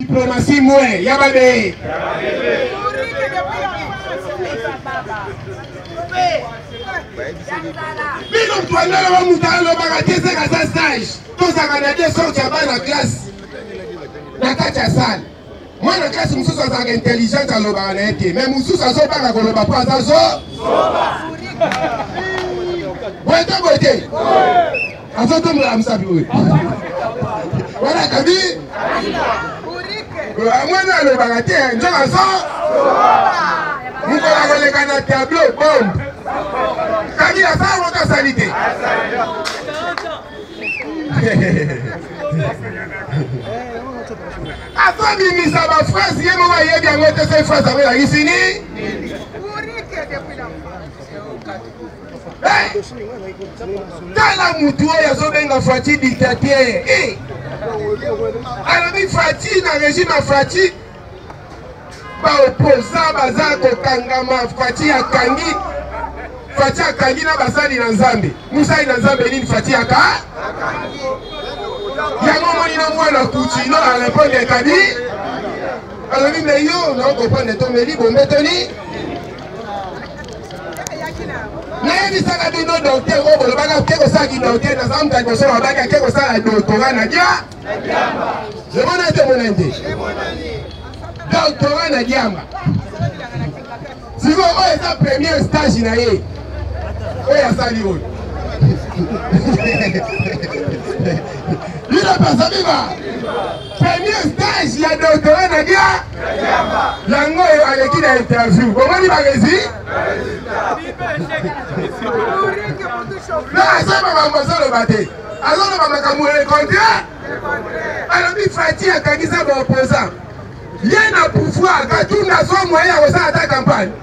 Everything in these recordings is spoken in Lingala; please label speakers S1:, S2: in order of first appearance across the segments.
S1: Diplomatie moins ya ba bee.
S2: Bino mtuandala wa mutu alobaka te seka sa stage tozaka na te sorte ya bana classe na kati ya sale mwana classe mosusu azalaka intelligente alobaka na ye te mai mosusu azobanga koloba mpo aza zo boye to boye te Azo tombola amsabi oyo. Wana kabi. Amwene alobaka te nzoka azo. Mokolo akoleka na tableau bombe. Kabila asala moto asali te. azobimisa bafrase ye moko ayebi yango te soki frase yango elakisi nini tala mutu oyo azobenga fati dictateur eh! alobi fati na régime ya fati baoposa baza kokangama fati akangi fati akangi na basali na nzambe mosali na nzambe nini fati aka yango omoni na mwana kutino arepondre ekabi alobi me yo naokoprendre tomeli bombetoni nayebisaka bino dokter oyo bolobaka ke kosala kidokter naza moto ya liboso babaki ake kosala doktora na dia omona te omona nde doktora na diamba sikoyo oyo eza premier stage na ye oyo asali oyo bino mpe asabiba Premier stage ya doctorat na dia yango oyo aleki na interview bomoni baresi na aza makambo azoloba te azoloba makambo le contraire alobi fati akangisa baopposant ye na pouvoir katunda azwa moyen ya kosala ata campagne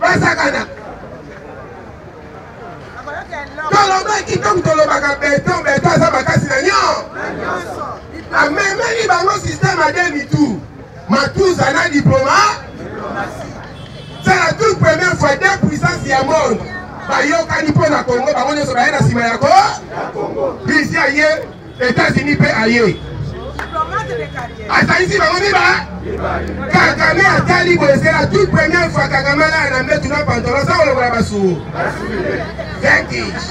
S2: basakana tolobaki ntango tolobaka beton beton aza makasi na nyo amemeli bango système ya demi tour matuza na diploma sala toute première fois deux puissance ya monde bayokani mpo na congo bango nyonso baye na nsima ya ko bizi aye Etats-Unis pe aye. Asalisi bango miba. Kagame atali boye c'est la toute première fois Kagame alala na mbetu na pantalon sa kolokola basuo. Vintage.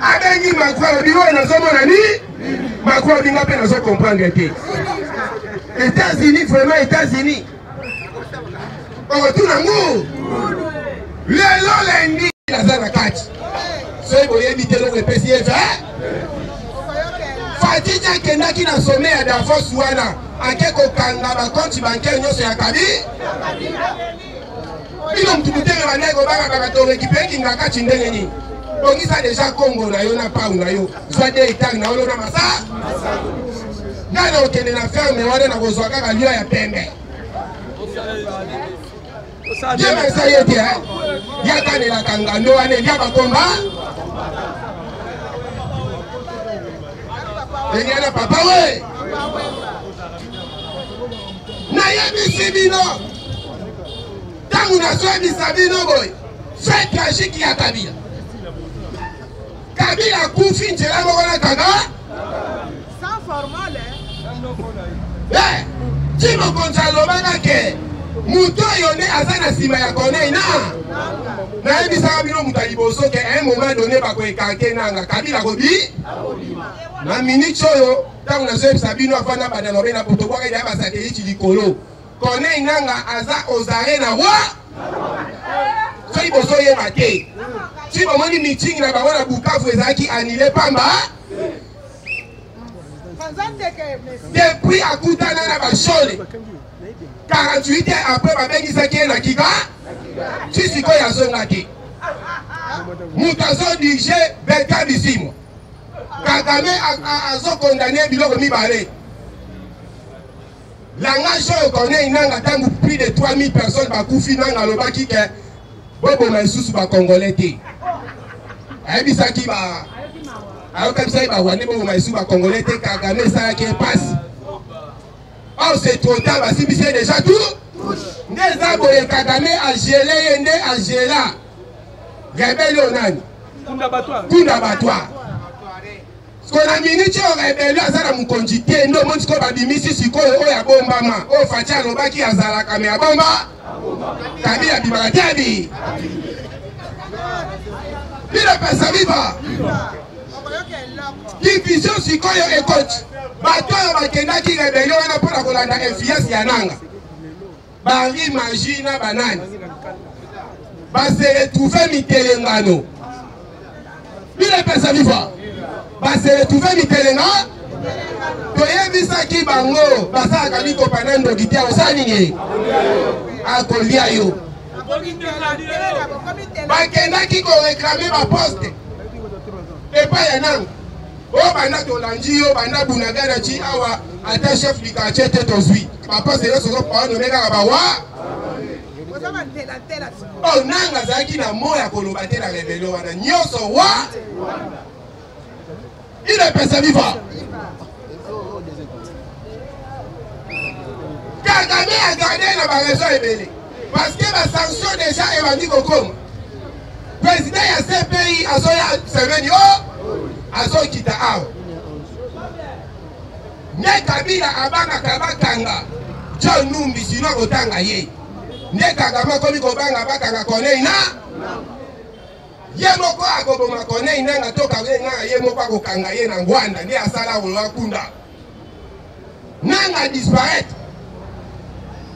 S2: Abengi Macron alobi oyo nazomona ni Macron alobi nga pe nazo comprendre te. États-Unis vraiment États-Unis. okotuna ngu lelo lendi naza na kati soki boyebi te eloko epesi ye fe eh? fatiti akendaki na some ya davos wana ake kokanga bakonti bancaire nyonso ya kabi bino mutu mutema bandai kobanga bakatonga ekipe ekinga kati ndenge nini bongisa deja kongo na yo na pau na yo zwa de etang na olona masa ngai na okende na ferme wana nakozwa kaka lio ya pembe jema esa ye te yakanelaka ngando wana elia bakomba eliana papa we nayebisi bino ntango nazoyebisa bino boye fait tragique ya kabila kabila akufi nzela moko na kaka eh, ti mokonzi alobaka ke moto oyo nde aza na nsima ya corneille na nayebisaka bino moto ya liboso ke un moment donné bakoekanke nanga kabila kobi na minute oyo ntango nazoyebisa bino afanda banda lobe na potobwaka ya basateliti likolo Corneille Nanga aza ozare na roi soki bozoyeba te soki bomoni meeting na bango na bukavu ezalaki anile pamba depuis akutana na bashole 48 heures après babengisaki ye na kika ti sikoyo azonga te moto azodirige belka bisimwa kagame azokondane biloko mibale Langage oyo Corneille Nanga ntango plus de 3000 personnes bakufi Nanga alobaki ke boboma lisusu bacongolais te ayebisaki ba ayokabisaki barwandais boboma lisusu bacongolais te Kagame esalaki ye mpasi or c'est trop tard basimbisi ye déjà tout nde eza boye Kagame agele ye nde agela rebele oyo nani kunda batwa Siko na minute oyo rebelio aza na mokonzi te nde omoni sikoyo babimisi sikoyo oyo abombama oyo faci alobaki azalaka me abomba kabila abimaka te abi bino pesa biba division sikoyo ekoti bato oyo bakendaki rebelio wana mpo na kolanda influence ya nanga Bari magie na banani base retrouve mitelengano bino epesa viva base retrouve mitelenga toyebisaki bango basalaka mikopa na ndoki te akosala nini akolia yo bakendaki koreklame baposte epai ya nanga o banda tolandi yo banda bunagana ti awa ata chef du quartier te tozwi bapase nyonso ozopawa nome kaka bawa o nanga azalaki na mo ya koloba te na rebelo wana nyonso wa ile pesa viva kagame agarde na barezo ebele Parce que ba sanction deja ebandi kokoma. President ya CPI azoya semeni o azokita awa. Nde Kabila abangaka bakanga John Numbi sino akotanga ye. Nde Kagame akomi kobanga bakanga Corneille na ye moko akoboma Corneille nanga to Corneille nanga ye moko akokanga ye na Ngwanda nde asala Rwanda kunda. nanga disparaitre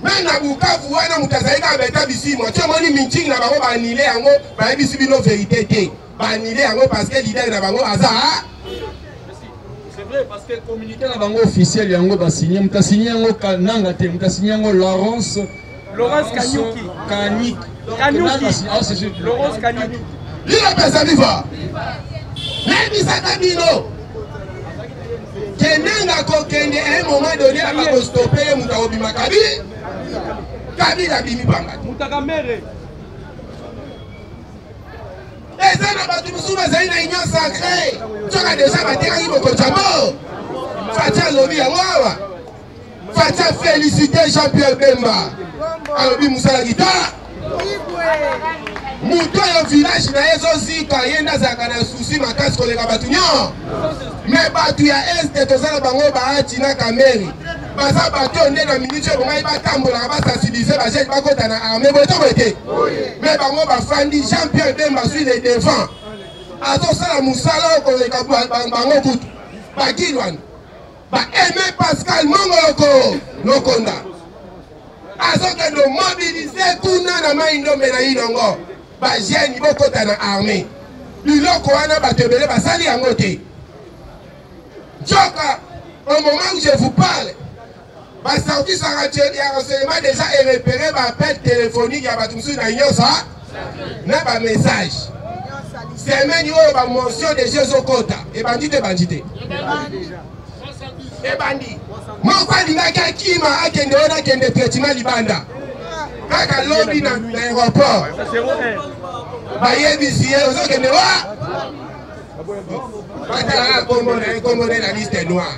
S2: meme na bukavu wana moto azali kaka beta bisimwa ti omoni mincingi na bango baanile yango bayebisi bino verité te baanile yango parce que lidere na bango aza vrai parce que
S3: communiqué na bango officiel yango basigne moto asigne yango nanga te moto asigne yango larence Laurence Kanyuki. Kanyuki. Kanyuki. Laurence Kanyuki. Lila pesa
S2: viva. Nayebisaka bino. Kenanga kokende un moment donné aba kostope ye moto akobima kabi kabila abimi banga te eza na bato mosusu bazali na union sacré soka deja batekaki bokotyamo fati alobi yango awa Fatshi a felicite Jean-Pierre Bemba alobi mosala guitare moto oyo village na ye ezozika ye nde azalaka na susi makasi koleka bato nyon me bato ya este toza na bango baati na kameri baza bato oyo nde na miniti oyo bongai batambolaka basensibilize bajene bakota na arme boye to boye te me bango bafandi jean pierre bemba sui le devant azosala mosala oyo koleka bango kutu bakilwana Ba Aimé Pascal Mongoloko Lokonda azokende mobilize kuna na mai ndombe na inongo bagene bokota na armée biloko wana bato ebele basali yango te nzoka au moment où je vous parle Basaukisaka que le renseignement déjà est repéré par appel téléphonique ya bato mosusu na nyonso na ba message semaine oyo ba mention déjà ezokota ebandi te ebandi te ebandi moko alingaki akima akende oyo nakende traitement libanda kaka lobi na aéroport bayebisi ye ozokende wa batalaka kombo na ye kombo na ye na liste noire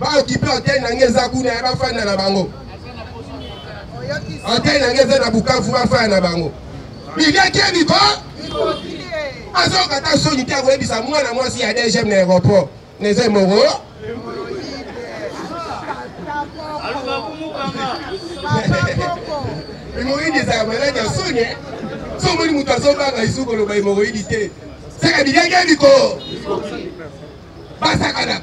S2: Ba occuper hôtel na ngai eza kuna ya ba fanda na bango. Hôtel na ngai eza na Bukavu ba fanda na bango. Bilia kebi ko? Azokata soni te akoyebisa mwana mwasi ya DGM na aéroport. Neze moro. Hemorroïde ezalaka maladi ya soni eh? so omoni moto azobanga lisusu koloba hemorroïde te saka bilengi ya mikolo basakanaka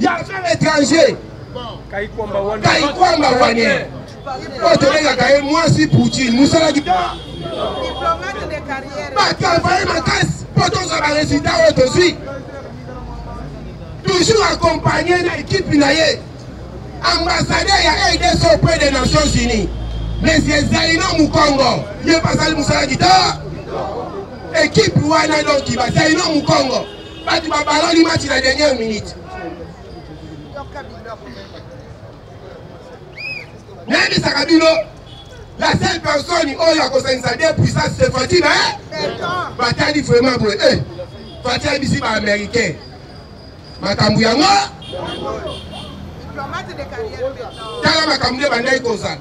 S2: ya femme étranger kaikwamba wane oyo tobengaka ye mwasi poutine mosala kita batravaye makasi mpo tozwa baresultat oyo tozwi toujours accompagne na ekipe na ye ambassadeur ya rdc auprès des nations unies monsieur zaino mukongo ye bazali mosala kita ekipe wana donki bazaino mukongo batu babaloli match na dernière minute nayebisaka bino la seule personne oyo akosangisa de puissance se fati na batali vraiment boye e fati ayebisi baaméricain makambo yango tala makambo nde bandaki kozala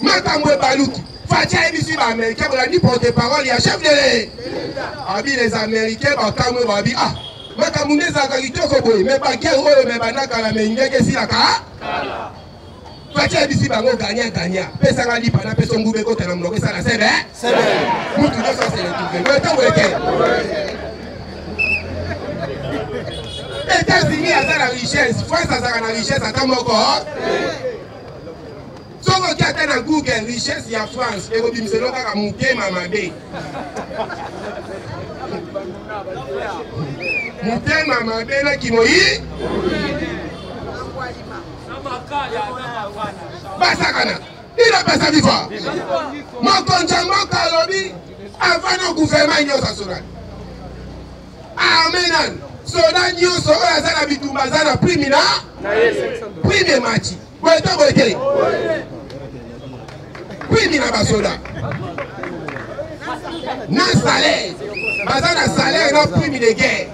S2: makambo ebaluki faci ayebisi baaméricain bolandi porte parole ya chef de le abi les américain bakamwe babi ah makambo nde ezalaka kitoko boye me bagere oyo me bandakala me ndenge esilaka faci ayebisi bango gagna gagna pesanga lipa na peso nguba ekota na monoko esala sebe mutu nyonso aseletouve me ntango ete etats-unis aza na richesse france azalaka na richesse ata moko soki oki ata na google richesse ya france ekobimisa eloko kaka motema mabe motema mabe na kimoi basakana ina pesa lifa mokonzi ya mboka alobi avant na guvernema nyonso asolani arme nani soda nyonso oyo aza na bitumba aza na prime na prime emati boye to boye te prime na basoda na salaire baza na salaire na prime de guerre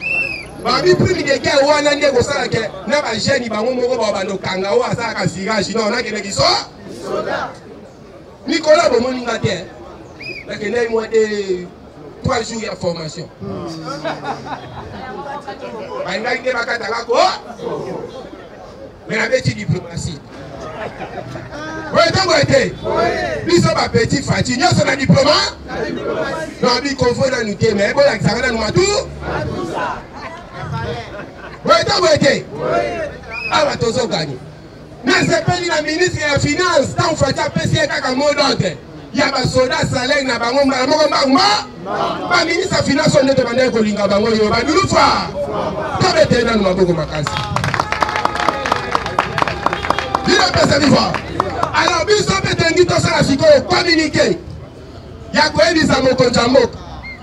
S2: babi prime de guerre wana nde ekosala ke na bagene bango moko babanda okanga oyo asalaka sirage no nakende kiso Nicolas bomoni nga te nakendaki mwa te trois jours ya formation bandaki nde bakata bako me nabeti diplomatie oyo ntango ete biso bapeti fati nyonso na diploma na bikonfo nanu te me bolakisaka nanu matu oyo ntango ete awa tozoganye nasepeli na ministre ya finance ntango fati apesi ye kaka mot d'ordre ya basoda salaire na bango mbala moko mbanguma baministre ya finance oyo nde tobandaki kolinga bango yo badulufa tobeteli nano maboko makasi bino pesa bifa alors biso mpe tolingi tosala sikoyo communiqué ya koyebisa mokonzi ya mboka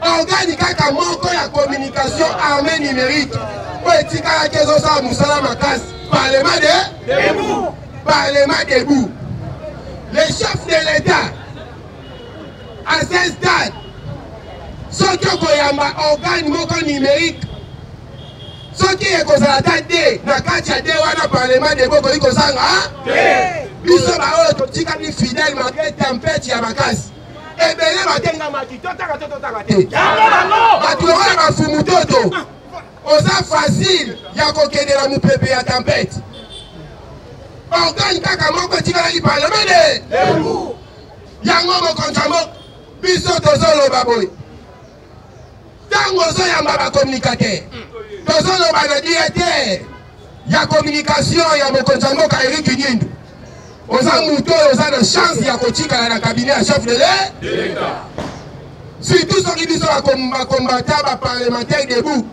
S2: Organi kaka moko ya communication armée numérique mpo etikalaki ezosala mosala makasi parlement de debout parlement debout le chef de l'état à ce stade soki okoyamba organe moko numérique soki ekozala ata te na kati ya de wana parlement debout okoki kozanga biso baoyo totikali fidèle malgré tempete ya makasi ebele batengamaki totaka to totaka te bato yango ya bafumu toto oza facile ya kokendela mopepe ya tempete organe kaka moko etikalaki parlemene yango mokonzi yango biso tozoloba boye ntango ozoyamba bakomunikate tozoloba na directeur ya communication ya mokonzi ya mboka erik nyindu oza moto oyo oza na chance ya kotikala na kabine ya chef de l'etat surtout soki biso bakombata baparlementaire debout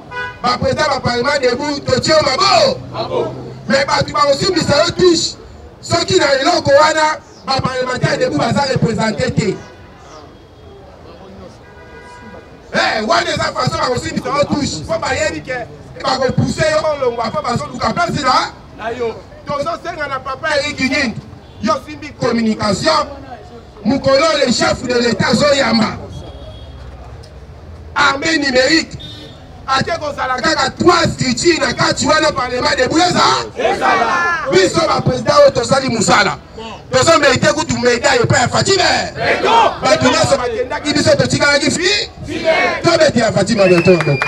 S2: baprésident baparlement debout totie yo mabo me bato bakosimbisa yo touche soki na eloko wana baparlementaire debout baza représente te Eh, wana eza faso bakosimbisa yo touche mpo bayebi ke bakopuse yo olongwa mpo bazoluka place na na yo tozosenga na papa eriki nini yo simbi communication mokolo le chef de l'état azoyamba armée numérique ate kozala kaka trois structure na kati wana parlement debout eza biso baprésident oyo tosali mosala tozo merite kutu medaille epai ya fatime bato nyonso bakendaki biso totikalaki fi tobeti ya fatime bientôt ya moko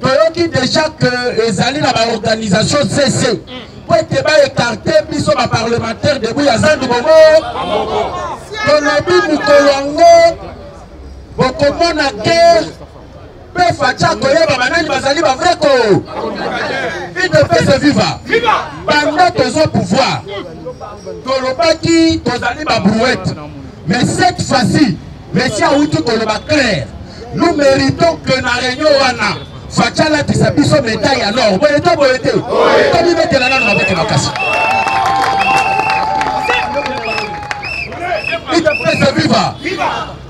S2: toyoki deja ke ezali na baorganisation cc mpo ete baekarte biso baparlementaire debout ya zando bongo tolobi mokolo yango bokomona guerre mpe faci akoyeba banani bazali bavrai ko idps viva banda tozo pouvoir tolobaki tozali babrouette Mais cette fois-ci, Messi awuti koloba clair. Nous méritons que na réunion wana Fatshi alatisa biso medaille ya l'or. Boye to boye te. Tomibetela nano mabete makasi. Idepesa viva.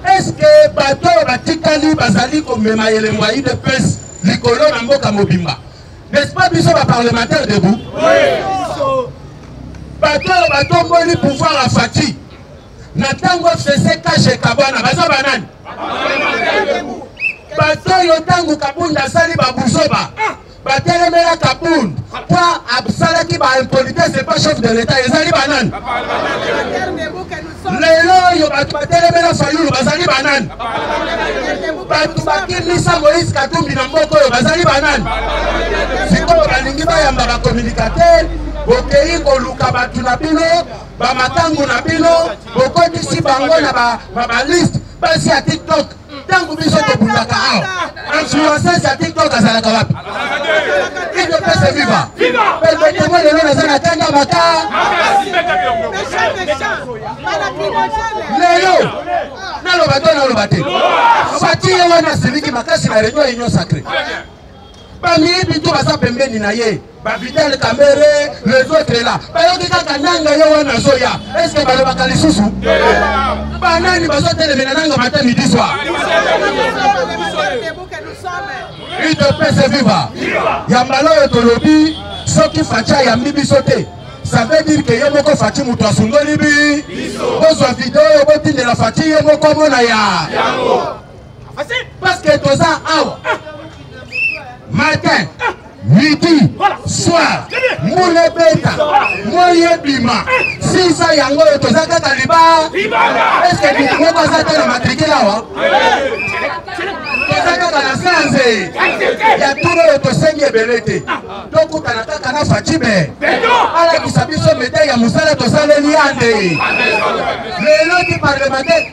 S2: Est-ce que bato oyo batikali bazali komema elembo ya idepesa likolo na mboka mobimba? N'est-ce pas biso ba parlementaire debout? Oui. bato oyo batomboli pouvoir ya fati na ntango fcc kashe kabwana baza banani bato oyo ntango kabund asali babuzoba batelemela kabund mpo asalaki baimpolitese epa chef de l'etat ezali banani lelo oyo bato batelemela fayulu bazali banani bato bakimisa moïse katumbi na mboka oyo bazali banani sikoyo balingi bayamba bakomunikatere bokei koluka bato na bino ba makangu na bino bokotisi bango na ba ba, ba liste basi ya tiktok ntango biso tobundaka awa influences ya tiktok azalaka wapi ido pese viva permetemo lelo naza na tanga maka lelo naloba to naloba te fatie wana asiliki makasi na reunion union sacré bamiyibi to baza pembeni na ye bavital kamere les autres là bayoki kaka nanga ye wana azoya estce balobaka lisusu banani bazotelemela nanga mata midi soir udps viva ya mbala oyo tolobi soki faci ayambi biso te ça veut dire que ye moko faci moto asundoli bi bozwa video oyo botindela faci ye moko amona ya Paske toza awa matin midi soir mbula ebeta moi ebima sisa yango oyo toza kaka liba eske moto moko aza te na matrikile awa toza kaka na sanze ya tuna oyo tosengi ebele te tokutana kaka na facibe alakisa biso metai ya mosala tosaleli yande lelo ti parlementaire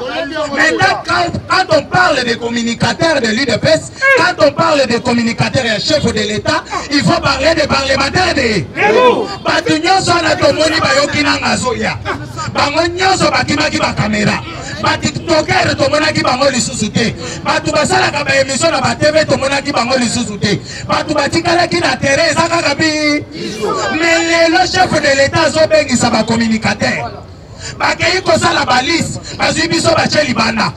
S2: Maintenant, quand, quand, on parle des communicateurs de l'UDPS, quand on parle des communicateurs et chefs de l'État, il faut parler des parlementaires de bato nyonso wana tomoni bayoki na ngazoya bango nyonso bakimaki bakamera batiktoker tomonaki bango lisusu te bato basalaka baemisio na batv tomonaki bango lisusu te bato batikalaki na terrain eza kaka bi me lelo chef de l'État azobengisa bacommunicateur bakei kosala balise bazwi biso batye libanda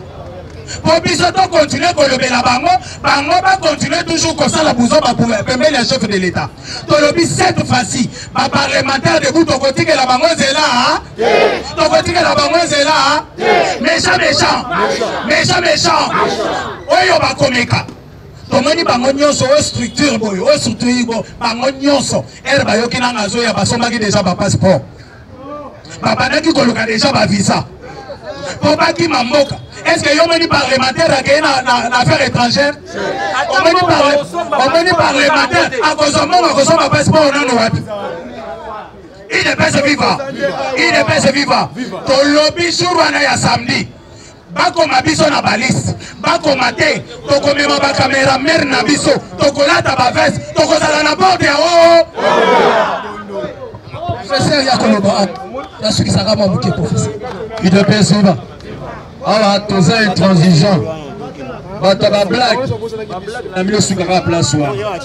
S2: mpo biso tokontinue kolobela bango bango bakontinue toujours kosala buzoba pembeni ya chef de l'etat tolobi cette fois-ci baparlementaire debu tokotikela bango nzela ah? tokotikela bango nzela ah? méchant méchant méchant méchant oyo bakomeka tomoni bango nyonso oyo structure boye oyo structure bango nyonso ere bayoki nanga azoya basombaki deja bapasseport babandaki koluka deja bavisa mpo bakima mboka estce yo omoni parlementaire akei na affaire étrangère omoni parlementaire akozwa mbongo akosomba passeport nano wapi idepese viva idepese viva tolobi jour wana ya samedi bakoma biso na balisi bakoma te tokomema bakamera mere na biso tokolata bavese tokozala na borde ya oo professeur ya koloba ata nasukisaka mwa moke professeur udps
S3: oba awa toza intransigeant bato ya bablake na mino sukaka place wana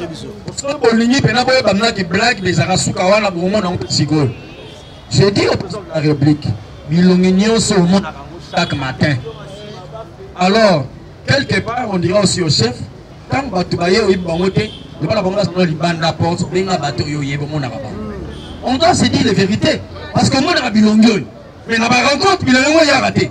S3: soki bolingi mpena boyeba mnaki blake bezaka suka wana bomona yango sikoyo je dis au président de la république milongi nyonso omonaka yango chaque matin alors quelque part on dira aussi au chef ntango bato baye oyebi bango te loba na bango bazana libanda porte benga bato oyo oyebi omonaka bango on doit se dire les vérités parce que omonaka bilongi oyo mais na barencontre bilongi yango eyaka te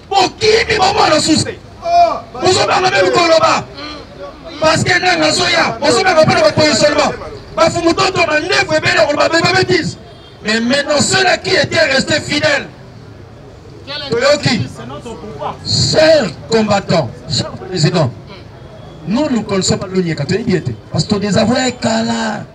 S3: bokimi bomona suse bozobanga mpe bikoloba parceke nanga azoya bozobanga mpo na bapositionnement bafumu toto mandefu ebele akoloba beba betise mais maintenant cela qui était resté fidèle toyoki cher combattant cher président nous nous connaissons pas lonieka toyebi ete parce que todésavouer kala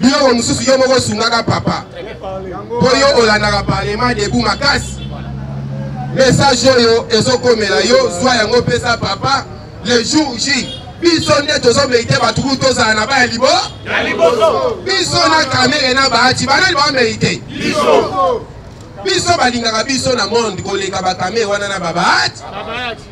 S2: biloko mosusu yo moko osungaka papa mpo yo olandaka parlement debu makasi message oyo ezokomela yo zwa yango pesa papa le jour j biso nde tozomerite bato kutu tozala na baya libo biso na kamere na baati banani bamerite biso balingaka biso na monde koleka bakamere wana na babaati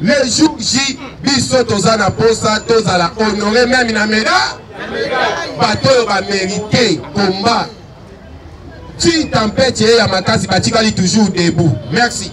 S2: Le jour J, biso toza na posa tozala honore meme na meda bato oyo bamerite combat ti tempete ye ya makasi batikali toujours debout merci